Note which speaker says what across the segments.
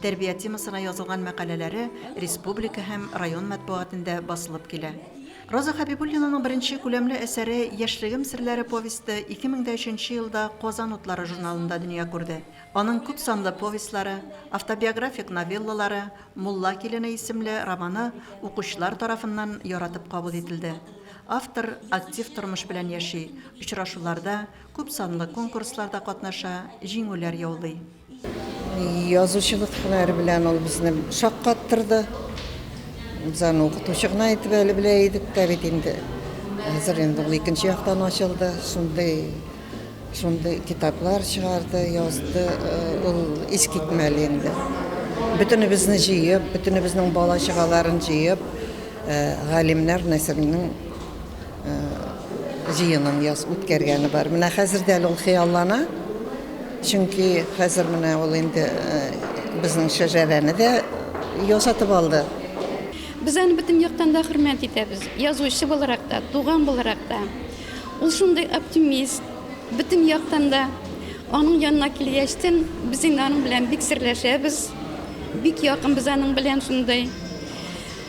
Speaker 1: Тәрбия темасына язылган мәкаләләре республика һәм район мәтбугатендә басылып килә. Роза Хәбибуллинаның беренче күләмле әсәре Яшьлегем серләре повесте 2003 елда Казан утлары журналында дөнья күрде. Аның күпсанлы повестьлары, автобиографик новеллалары, Мулла килене исемле романы укучылар тарафыннан яратып кабул ителде. Автор актив тормыш белән яши, очрашуларда, күпсанлы конкурсларда катнаша, җиңүләр яулый.
Speaker 2: Язучылык һөнәре белән ул безне шаккаттырды. Без аны укытучы гына итеп әле белә идек тә бит инде. Хәзер инде ул икенче яктан ачылды. Шундый шундый китаплар чыгарды, язды. Ул искитмәле инде. Бөтенебезне җыеп, бөтенебезнең бала-чагаларын җыеп, галимнәр Насирның җыенын яз үткәргәне бар. Менә хәзер дә әле ул хыяллана. Чөнки хәзер менә ул инде безнең шәҗәрәне дә ясатып алды. Без аны
Speaker 3: бөтен яктан да хөрмәт итәбез. Язучы буларак та, туган буларак та. Ул шундый оптимист, бөтен яктан да. Аның янына килгәчтен, без инде аның белән бик серләшәбез. Бик якынбыз аның белән шундый.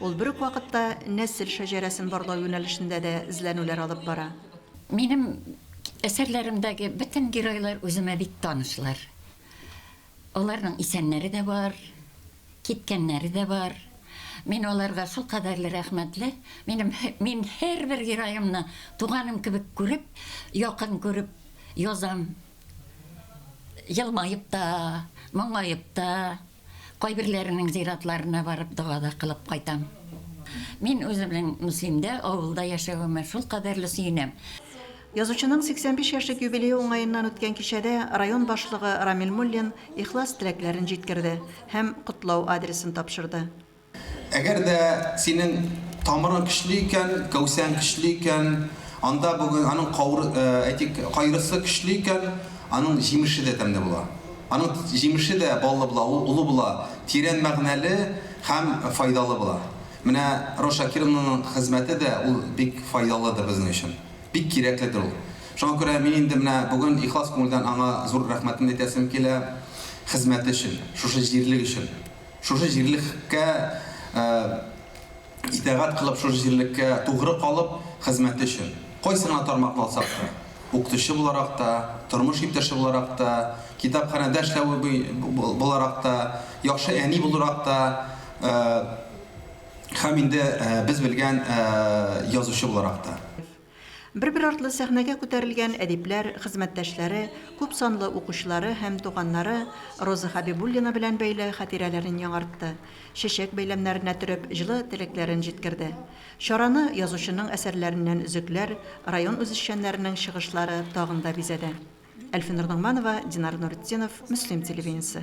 Speaker 1: Ул бер үк вакытта нәсел шәҗәрәсен барлау юнәлешендә дә эзләнүләр алып бара. Минем
Speaker 4: әсәрләремдәге бөтен геройлар үземә бик танышлар. Аларның исәннәре дә бар, киткәннәре дә бар. Мин аларга шулкадәрле рәхмәтле, минем мин һәрбер героемны туганым кебек күреп, якын күреп язам, елмаеп та, моңаеп та. Кайберләренең зиратларына барып дога да кылып кайтам. Мин үземнең Мөслимдә, авылда яшәвемә шулкадәрле сөенәм. Язучының
Speaker 1: 85 яшьлек юбилее уңаеннан үткән кичәдә район башлыгы Рамил Муллин ихлас теләкләрен җиткерде һәм котлау адресын тапшырды. Әгәр дә
Speaker 5: синең тамырың көчле икән, кәүсәң көчле икән, анда бүген аның кауры, э, әйтик, кайрысы көчле икән, аның җимеше дә тәмле була. Аның җимеше дә баллы була, ул олы була, тирән мәгънәле һәм файдалы була. Менә Роза Шакировнаның хезмәте дә ул бик файдалыдыр безнең өчен. Бик кирәкледер ул. Шуңа күрә мин инде менә бүген ихлас күңелдән аңа зур рәхмәтемне әйтәсем килә хезмәте өчен, шушы җирлек өчен. Шушы җирлеккә итәгать кылып, шушы җирлеккә тугры калып хезмәте өчен, кайсы гына тармакны алсак та, укытучы буларак та, тормыш иптәше буларак та, китапханәдә эшләве буларак та, яхшы әни буларак та һәм инде без белгән язучы буларак та. Бер-бер
Speaker 1: артлы сәхнәгә күтәрелгән әдипләр, хезмәттәшләре, күп санлы укучылары һәм туганнары Роза Хәбибуллина белән бәйле хатирәләрен яңартты, чәчәк бәйләмнәренә төреп, җылы теләкләрен җиткерде. Чараны язучының әсәрләреннән өзекләр, район үзешчәннәренең чыгышлары тагын да бизәде. Әлфинур Ногманова, Динар Нуретдинов, Мөслим телевидениесе.